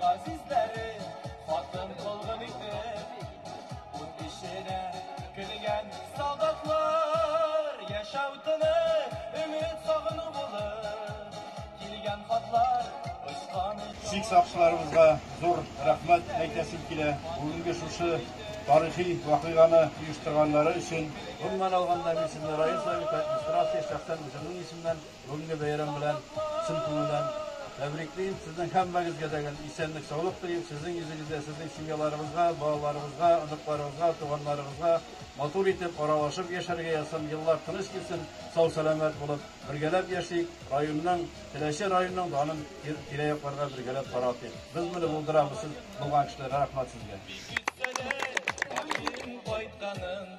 Газизләре хатын кылгын итеп Ут эченә кергән солдатлар Яшәү тынып, өмет сагыну булып Килгән хатлар очкан Сик сакчыларыбызга зур рәхмәт әйтәсем килә, бүгенге шушы тарихи вакыйганы оештырганнары өчен. Гомумән алганда, мин сезне район Советы, администрация, шәхсән үземнең исемнән Бүгенге бәйрәм белән чын күңелдән тәбриклим. Сезнең һәммәгезгә дә исәнлек, саулык телим. Сезнең йөзегездә, сезнең семьяларыгызга, балаларыгызга, оныкларыгызга, туганнарыгызга матур итеп аралашып яшәргә язсын. Еллар тыныч килсен, сау-сәламәт булып, бергәләп яшик. Районның, Теләче районының данын тирә-якларга бергәләп таратыйк. Без моны булдырабыз, сез булган кешеләргә рәхмәт сезгә. Ишеткәләр, һәм ирем кайтканын.